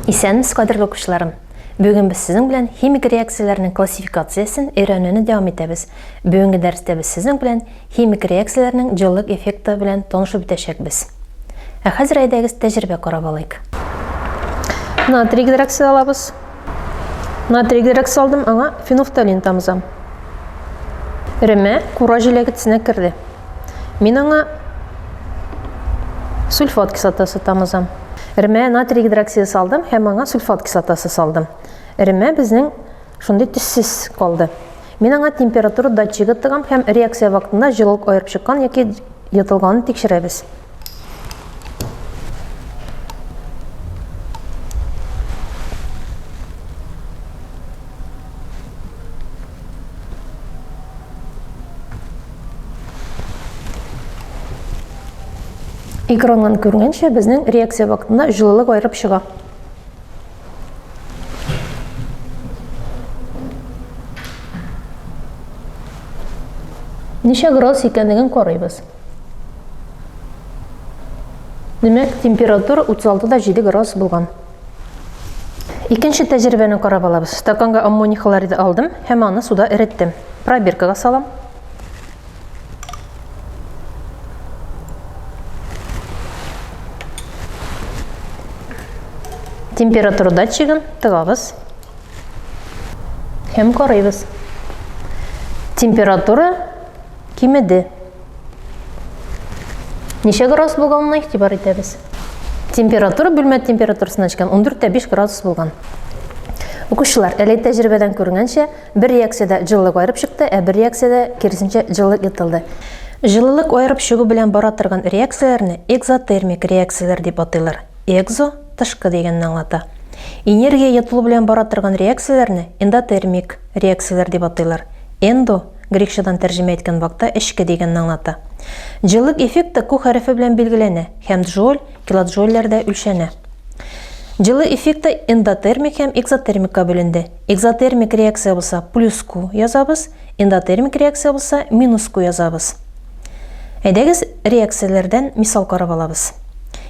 Исәнмесез, кадерле укучыларым! Бүген без сезнең белән химик реакцияләрнең классификациясен өйрәнүне дәвам итәбез. Бүгенге дәрестә без сезнең белән Химик реакцияләрнең җылылык эффекты белән танышып үтәчәкбез. Ә хәзер әйдәгез тәҗрибә карап алыйк. Натрий гидроксид алабыз. Натрий гидроксид алдым, аңа фенофталин тамызам. Ремә кура җиләгетсенә керде. Мин аңа сульфат кислотасы тамызам. Ремә натрий гидроксиды салдым һәм аңа сульфат кислотасы салдым. Ремә безнең шундый төссез калды. Мин аңа температура датчигы тыгам һәм реакция вакытында җылылык аерып чыккан яки йотылганын тикшерәбез. Экраннан күренгәнчә, безнең реакция вакытында җылылык аерып чыга. Ничә градус икәнлеген карыйбыз. Димәк, температура 36 да 7 градус булган. Икенче тәҗрибәне карап алабыз. Стаканга аммоний хлориды алдым һәм аны суда эреттем. Пробиркага салам. Температура датчигын тыгабыз һәм карыйбыз. Температура кимеде. Ничә градус булганына игътибар итәбез. Температура бүлмә температурасына җиткән 14 5 градус булган. Укучылар, әле тәҗрибәдән күренгәнчә, Бер реакциядә җылылык аерып чыкты, ә бер реакциядә, киресенчә, җылылык ертылды. Җылылык аерып чыгу белән бара торган реакцияләрне экзотермик реакцияләр дип атыйлар, экзо, тышкы дигәнне аңлата. Энергия йотылу белән бара торган реакцияләрне эндотермик реакцияләр дип атыйлар, эндо, грекчадан тәрҗемә иткән вакта эчке дигәнне аңлата. Җылылык эффекты Ку хәрефе белән билгеләнә һәм джоуль, килоджоульләрдә үлчәнә. Җылы эффекты эндотермик һәм экзотермикка бүленде. Экзотермик реакция булса плюс Q язабыз, эндотермик реакция булса минус Q язабыз. Әйдәгез реакцияләрдән мисал карап алабыз.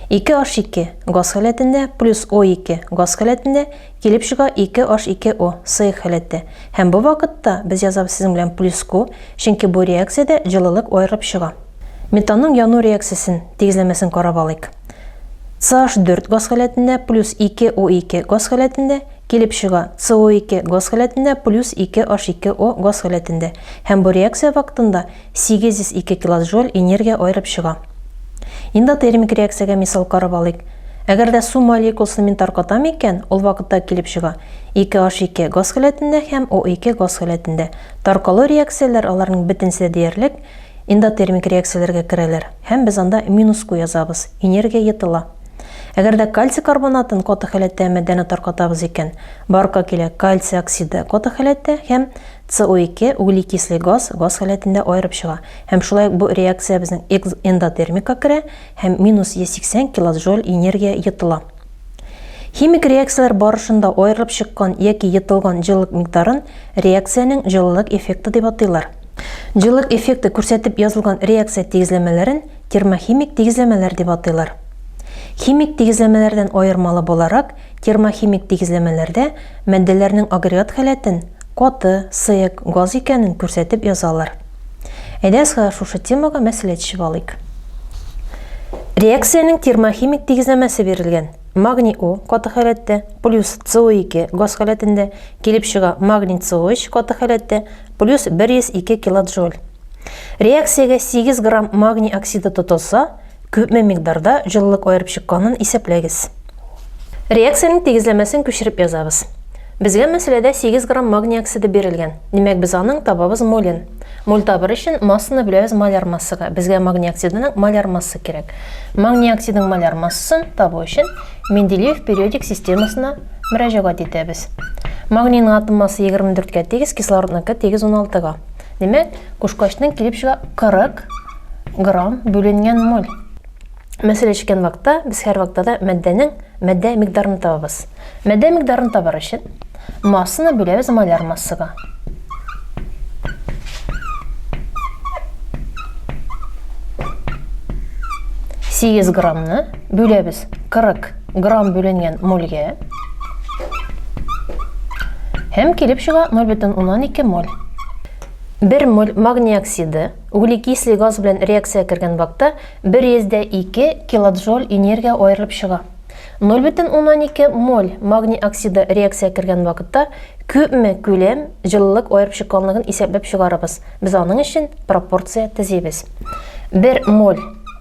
2H2 газ халәтендә плюс O2 газ халәтендә килеп чыга 2H2O сыек халәттә. Һәм бу вакытта без язабыз сезнең белән плюс Q, чөнки бу реакциядә җылылык аерылып чыга. Метанның яну реакциясен тигезләмәсен карап алыйк. CH4 газ халәтендә плюс 2O2 газ халәтендә Килеп чыга, СО2 газ халәтендә плюс 2 H2O газ халәтендә, һәм бу реакция вакытында 802 килоджоуль энергия аерып чыга. Эндотермик реакциягә мисал карап алыйк. Әгәр дә су молекуласын мин таркатам икән, ул вакытта килеп чыга, 2 H2 газ халәтендә һәм O2 газ халәтендә. Таркалу реакцияләр, аларның бөтенесе дә диярлек, эндотермик реакцияләргә керәләр, һәм без анда минус Q язабыз, энергия йотыла. Әгәр дә кальций карбонатын каты халәттә матдәне таркатабыз икән, барка килә кальций оксиды каты халәттә һәм CO2 углекислый газ газ халәтендә аерып чыга. Һәм шулай ук бу реакция безнең эндотермика керә һәм минус 180 килоджоуль энергия йотыла. Химик реакцияләр барышында аерылып чыккан яки йотылган җылылык микъдарын реакциянең җылылык эффекты дип атыйлар. Җылылык эффекты күрсәтеп язылган реакция тигезләмәләрен термохимик тигезләмәләр дип атыйлар. Химик тигезләмәләрдән аермалы буларак, термохимик тигезләмәләрдә матдәләрнең агрегат халәтен, каты, сыек, газ икәнен күрсәтеп язалар. Әйдәгез хәзер шушы темага мәсьәлә төшеп алыйк. Реакциянең термохимик тигезләмәсе бирелгән. Магний О каты халәттә, плюс СО2 газ халәтендә, килеп чыга магний СО3 каты халәттә, плюс 102 килоджоуль. Реакциягә 8 грамм магний оксиды тотылса, күпме микъдарда җылылык аерып чыкканын исәпләгез. Реакциянең тигезләмәсен күчереп язабыз. Безгә мәсьәләдә 8 грамм магний оксиды бирелгән, димәк без аның табабыз молен. Моль табыр өчен массаны бүләбез маляр массага, безгә магний оксидының маляр массы кирәк. Магний оксидың маляр массасын табу өчен Менделеев периодик системасына мөрәҗәгать итәбез. Магнийның атом массы 24 кә тигез, кислородныкы тигез 16 га. Димәк, кушкачның килеп чыга 40 грамм бүленгән моль. Мәсәле чиккән вакытта без һәр вакытта да матдәнең матдә микдарын табабыз. Матдә микдарын табар өчен массаны бүләбез моляр массага. Сигез граммны бүләбез 40 грамм бүленгән мольгә. Һәм килеп чыга 0,12 моль. 1 моль магний оксиды углекислый газ белән реакция кергән вакытта 102 килоджоуль энергия аерылып чыга. 0,12 моль магний оксиды реакция кергән вакытта күпме күләм җылылык аерып чыкканлыгын исәпләп чыгарабыз. Без аның өчен пропорция төзибез. 1 моль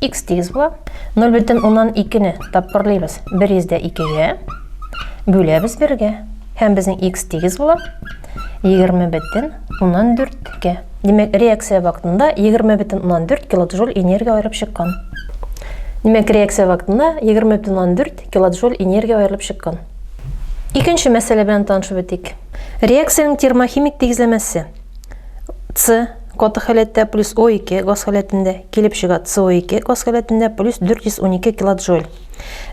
Икс тигез була. 0 бөтен уннан икене тапкырлыйбыз. 1 йөздә икегә. Бүләбез бергә. Һәм безнең икс тигез була. 20 бөтен уннан дүрткә. Димәк, реакция вакытында 20 бөтен уннан дүрт килоджоуль энергия аерылып чыккан. Димәк, реакция вакытында 20 бөтен уннан дүрт килоджоуль энергия аерылып чыккан. Икенче мәсьәлә белән танышып үтик. Реакциянең термохимик тигезләмәсе С Каты халәттә плюс О2 газ халәтендә, килеп чыга СО2 газ халәтендә плюс 412 килоджоуль.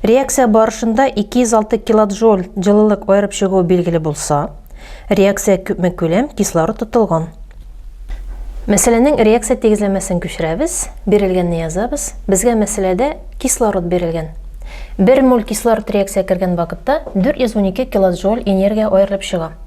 Реакция барышында 206 килоджоуль җылылык аерып чыгуы билгеле булса, реакция күпме күләм кислород тотылган. Мәсьәләнең реакция тигезләмәсен күчерәбез, бирелгәнне язабыз. Безгә мәсьәләдә кислород бирелгән. Бер моль кислород реакция кергән вакытта 412 килоджоуль энергия аерылып чыга.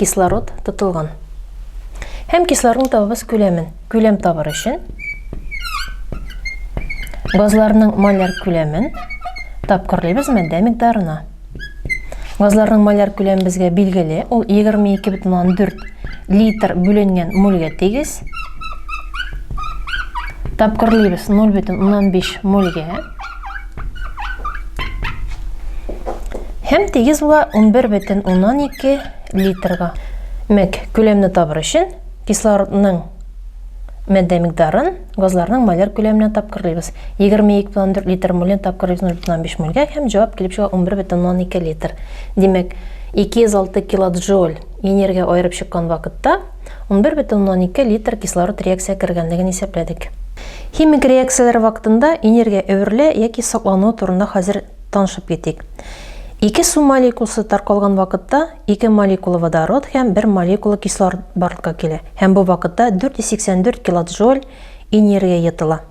кислород тотылган. Һәм кислородның табыбыз күләмен. Күләм табыр өчен газларның моляр күләмен тапкырлыйбыз матдә микъдарына. Газларның моляр күләме безгә билгеле, ул 22,4 литр бүленгән мольгә тигез. Тапкырлыйбыз 0,5 мольгә. Һәм тигез була 11,12 литрга. Мәк, күләмне табыр өчен кислородның мәддә микдарын газларның моляр күләменә тапкырлыйбыз. 22,4 литр моленә тапкырлыйбыз 0,5 мольгә һәм җавап килеп чыга 11,12 литр. Димәк, 206 килоджоуль энергия аерып чыккан вакытта Унбер бөтен уннан ике литр кислород реакция кергәнлеген исәпләдек. Химик реакцияләр вакытында энергия әверелә яки саклануы турында хәзер танышып китик. Ике су молекуласы таркалган вакытта ике молекула водород һәм бер молекула кислород барлыкка килә һәм бу вакытта 484 килоджоуль энергия йотыла.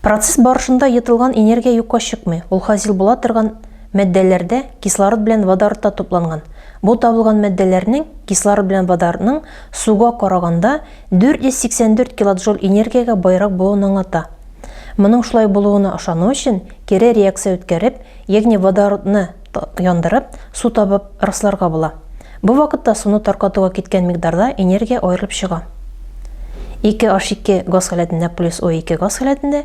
Процесс барышында йотылган энергия юкка чыкмый, ул хасил була торган матдәләрдә кислород белән водородта тупланган. Бу табылган матдәләрнең кислород белән водородның суга караганда 484 килоджоуль энергиягә баерак булуын аңлата. Моның шулай булуына ышану өчен кире реакция үткәреп, ягъни водородны яндырып, су табып расларга була. Бу вакытта суны таркатуга киткән микъдарда энергия аерылып чыга. 2H2 газ халәтендә плюс O2 газ халәтендә